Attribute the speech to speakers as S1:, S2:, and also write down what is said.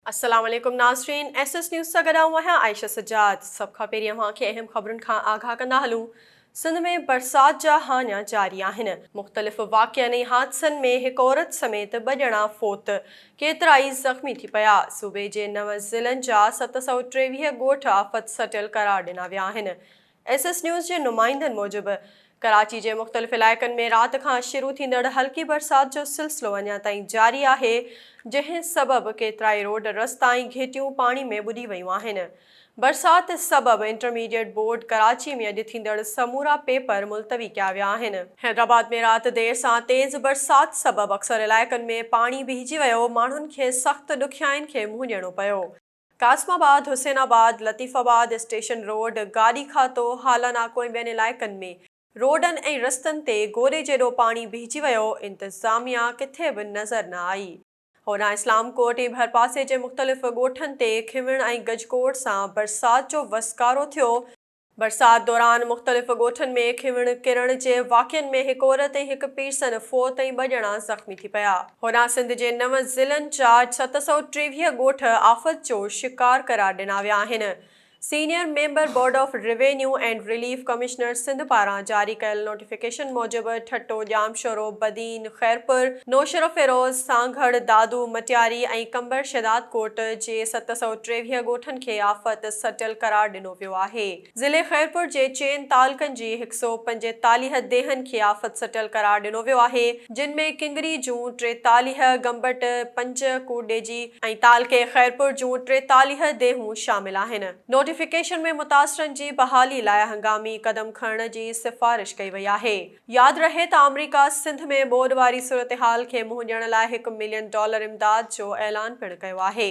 S1: السلام عليڪم ناظرين ايس ايس نيوز سان گڏ آئون آهيان عائشه سجاد سڀ کان پهرين اوهان کي اهم خبرن کان آگاهه ڪندا هلون سنڌ ۾ برسات جا هاڃا جاري آهن مختلف واقعن ۽ حادثن ۾ هڪ عورت سميت ٻه ڄڻا فوت ڪيترائي زخمي ٿي پيا صوبي جي نو ضلعن جا ست سؤ ٽيويهه ڳوٺ آفت سٽيل قرار ڏنا ويا آهن ايس ايس نيوز جي نمائندن موجب ڪراچي جي مختلف علائقن ۾ رات کان شروع ٿيندڙ هلڪي برسات جو سلسلو اڃا تائين جاري آهي جنهن سبب ڪيترائي روڊ رستا ۽ گهيٽيون پاڻي ۾ ٻڏي ويون آهن برسات سبب انٽرميڊيٽ بورڊ ڪراچي ۾ اڄ ٿيندڙ سمورا پيپر ملتوي ڪيا ويا آهن. حيدرآباد ۾ رات دير سان تيز برسات سبب اڪثر علائقن ۾ پاڻي بيهجي ويو ماڻهن کي سخت ڏکيائين کي منهن ڏيڻو پيو. Qasimabad, Hussainabad, Latifabad, station road, Gari Khata, Hala ناڪو ۽ ٻين علائقن ۾ روڊن ۽ رستن تي گوري جيڏو پاڻي بيهجي ويو، انتظاميا ڪٿي به نظر نه آئي. هوڏانهن اسلام ڪوٽ ۽ ڀرپاسي جي مختلف ڳوٺن تي کنوڻ ۽ گجگوڙ سان برسات جو وسڪارو ٿيو، برسات دوران مختلف ڳوٺن ۾ کنوڻ ڪرڻ جي واقعن ۾ هڪ عورت ۽ هڪ پيرسن فوت ۽ ٻه ڄڻا زخمي ٿي پيا. هوڏانهن سنڌ جي نو ضلعن جا ست سؤ ٽيويهه ڳوٺ آفت جو شڪار قرار ڏنا ويا آهن. Senior member board of revenue and relief commissioner Sindh پاران جاري ڪيل نوٽيفڪيشن موجب ٺٽو، ڄامشورو، بدين، خيرپور، نوشهروفيروز، سانگهڙ، دادو، مٽياري ۽ قمبر شهدادڪوٽ جي ست سؤ ٽيويهه ڳوٺن کي آفت سٽل قرار ڏنو ويو آهي. ضلعي خيرپور جي چئن تعلقن جي هڪ سؤ پنجيتاليهه ديهن کي آفت سٽل قرار ڏنو ويو آهي، جن ۾ ڪنگري جون ٽيتاليهه، گمبٽ پنج، ڪوٽڏيجي ۽ تعلقي خيرپور جون ٽيتاليهه ديهون شامل آهن. نوٽيفڪيشن ۾ متاثرن جي بحالي لاء هنگامي قدم کڻڻ جي سفارش ڪئي وئي آهي. ياد رهي ته آمريڪا سنڌ ۾ ٻوڏ واري صورتحال کي منهن ڏيڻ لاء هڪ ملين ڊالر امداد جو اعلان پڻ ڪيو آهي.